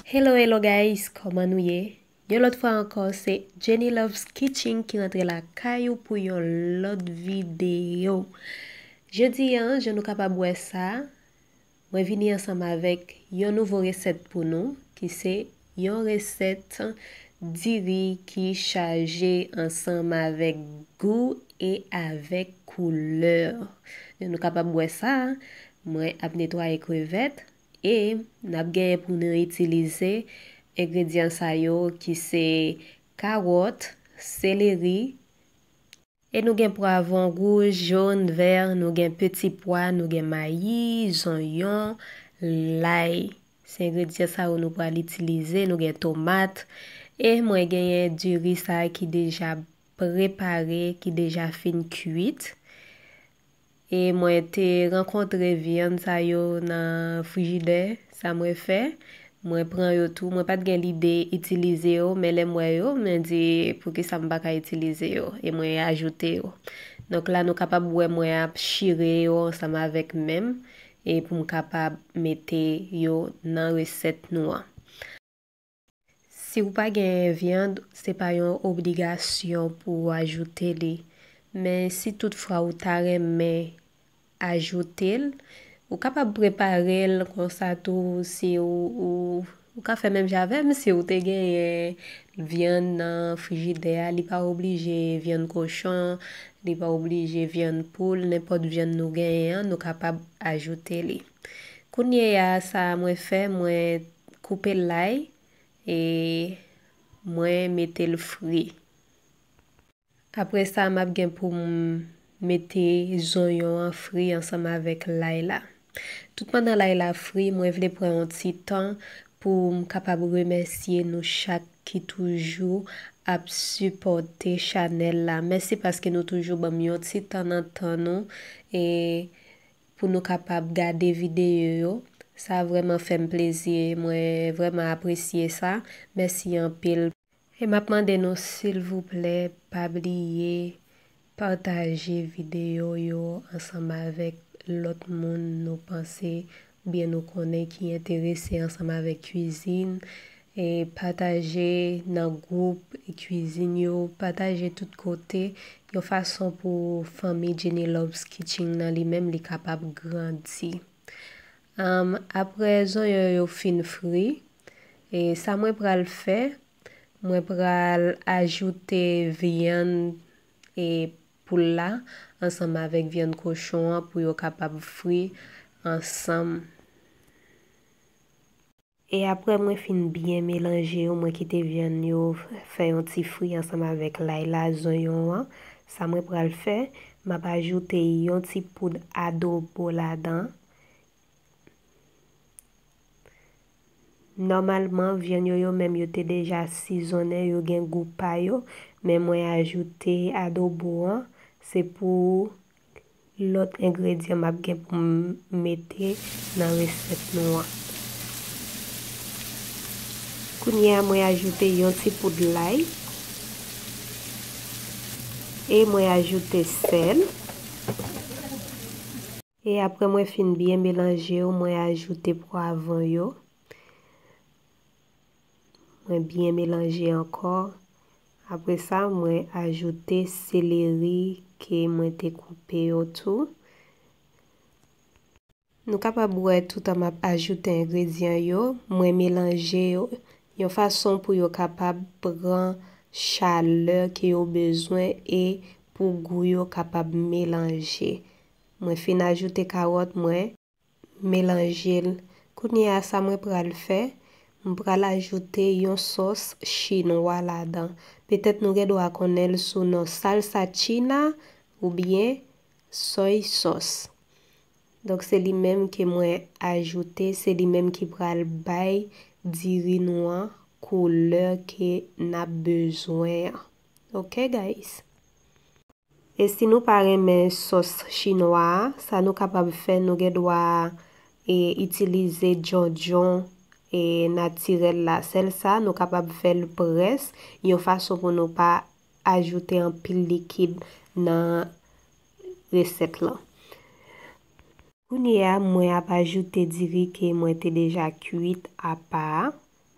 Hello hello guys kòman nou ye yon lòt fwa ankò se Jenny Loves Kitchen ki rantre la kay ou pou yon lòt videyo jodi an jan nou kapab wè sa mwen vini ansanm avèk yon nouvo resèt pou nou ki se yon resèt diri ki chaje ansanm avèk gou e avèk koulè jan nou kapab wè sa mwen ap netwaye krevèt e nap genyen pou nou itilize engredyan sa yo ki se kawòt, seleri. E nou gen pwavon wouj, jón, vè, nou gen peti pwa, nou gen mayi, zonyon, lay. Se engredyan sa yo nou pral itilize, nou gen tomat. E mwen genyen diri sa ki deja prepare, ki deja fin kuit. E mwen te rankontre vyann sa yo nan frijidè, sa mwen fè, mwen pran yo tou, mwen pat gen lide itilize yo, men lèm wè yo, mwen di poukisa m pa ka itilize yo, e mwen ajoute yo. Donk la nou kapab wè mwen ap chire yo ansanm avèk menm, e pou m kapab mete yo nan resèt nou an. Si ou pa gen viand se pa yon obligasyon pou ou ajoute li men si tout fwa ou ta renmen ajoute l ou kapab prepare l konsa tou si ou ka fè menm jan avèm si ou te genyen viand nan frijidè a li pa oblije viand kochon li pa oblije viand poul nenpòt viand nou genyen an nou kapab ajoute li. Kounyeya sa mwen fè mwen koupe lay e mwen mete l fri. Apre sa m ap gen pou m mete zonyon an fri ansanm avèk lay la. Tout pandan lay la fri mwen vle pran yon ti tan pou m kapab remèsye nou chak ki toujou ap sipòte chanèl la. Mèsi paske nou toujou banm yon ti tan nan tan nou e pou nou kapab gade video yo sa vreman fem plezi mwen vreman apresye sa mèsi anpil. E map mande nou silvouplè pa bliye pataje video yo ansanm avèk lòt moun nou panse oubyen nou konnen ki enterese ansanm avèk kwizin E pataje nan gwoup kwizin yo, pataje tout kote, yon fason pou fanmi Jenny Loves Kitching nan li menm li kapab grandi. Aprè zonyon yo fin fri, e sa mwen pral fè, mwen pral ajoute vyann e poul la ansanm avèk vyann kochon an pou yo kapab fri ansanm. E aprè mwen fin byen melanje yo mwen kite vyann yo fè yon ti fri ansanm avèk lay la, zonyon an, sa mwen pral fè map ajoute yon ti poud adobo ladan, nòmalman vyann yo yo menm yo te deja sizonnen yo gen gou pa yo men mwen ajoute adobo an se pou Lòt engredyan map gen pou m mete nan resèt nou an. Kounye a mwen ajoute yon ti poud lay. E mwen ajoute sèl. E apre mwen fin byen melanje yo mwen ajoute pwavon yo. mwen byen melanje ankò, apre sa mwen ajoute seleri ke mwen te koupe yo tou. Nou kapab wè toutan map ajoute engredyan yo, mwen melanje yo yon fason pou yo kapab pran chalè ke yo bezwen e pou gou yo kapab melanje. Mwen fin ajoute karòt mwen. Melanje l. Kounye a sa mwen pral fè, m pral ajoute yon sòs chinwa ladan. Petèt nou gen dwa konnen l sou non salsa china oubyen soy sauce. Donk se li menm ke mwen ajoute, se li menm ki pral bay diri nou an koulè ke n ap bezwen an. Ok guys. E si nou pa renmen sòs chinwa a, sa nou kapab fè nou gen dwa e itilize djondjon e natirèl la, sèl sa nou kapab fè l près yon fason pou nou pa ajoute anpil likid nan resèt lan. Kounye a mwen ap ajoute diri ke mwen te deja kuit apa a,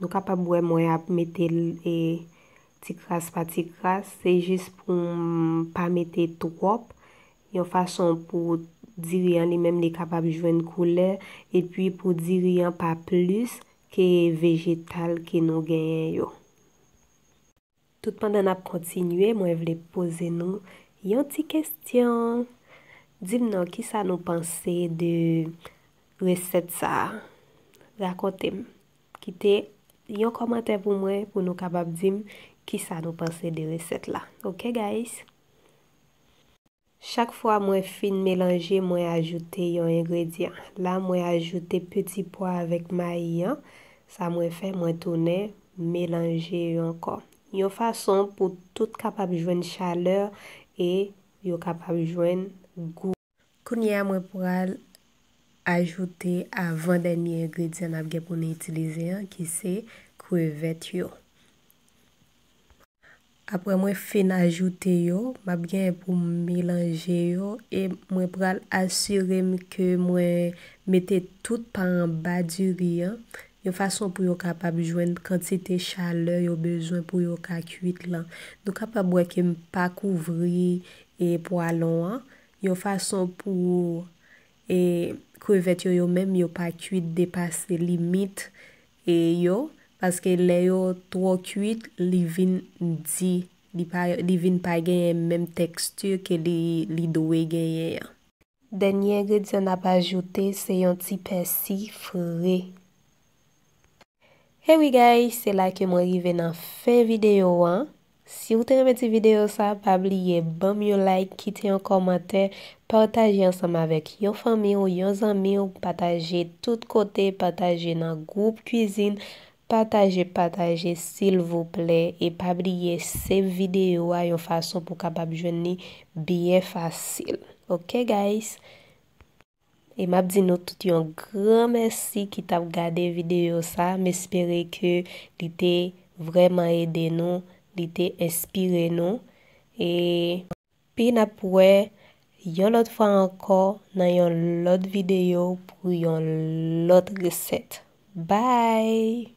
Nou kapab wè mwen ap mete l e ti kras pa ti kras, se jis pou m pa mete twòp, yon fason pou diri an li menm li kapab jwenn koulè, epi pou diri an pa plis ke vejetal ke nou genyen yo. Tout pandan nap kontinye mwen vle poze nou yon ti kestyon dim non kisa nou panse de resèt sa rakontem kite yon kòmantè pou mwen pou nou kapab dim kisa nou panse de resèt la ok guys. Chak fwa mwen fin melanje mwen ajoute yon engredyan. La mwen ajoute peti pwa avèk mayi an, sa mwen fè mwen tounen melanje yo ankò. Yon fason pou tout kapab jwenn chalè e yo kapab jwenn gou. Kounye a mwen pral ajoute avan dènye engredyan nap gen pou nou itilize an ki se krevèt yo. Aprè mwen fin ajoute yo, map genyen poum melanje yo e mwen pral asirem ke mwen mete tout pa anba diri an, yon fason pou yo kapab jwenn kantite chalè yo bezwen pou yo ka kuit lan. Nou kapab wè kem pa kouvri e pwalon an, yon fason pou e krevèt yo yo menm yo pa kuit depase limit E yo, paske lè yo twò kuit li vin di, li pa, li vin pa genyen menm texture ke li, li dwe genyen an. Dènye engredyan n ap ajoute se yon ti pèsi fre. Hey wi guys, se la ke mwen rive nan fen videyo an, Siw te renmen ti video sa pa bliye banm yon like kite yon kòmantè pataje ansanm avèk yon fanmiw yon zanmiw pataje tout kote pataje nan gwoup kwizin pataje pataje silvouplè e pa bliye save video a yon fason pou kapab jwenn li byen fasil ok guys. E map di nou tout yon gran mèsi ki tap gade video sa, m espere ke li te vrèman ede nou, li te enspire nou, epi nap wè yon lòt fwa ankò nan yon lòt video pou yon lòt resèt. Bye!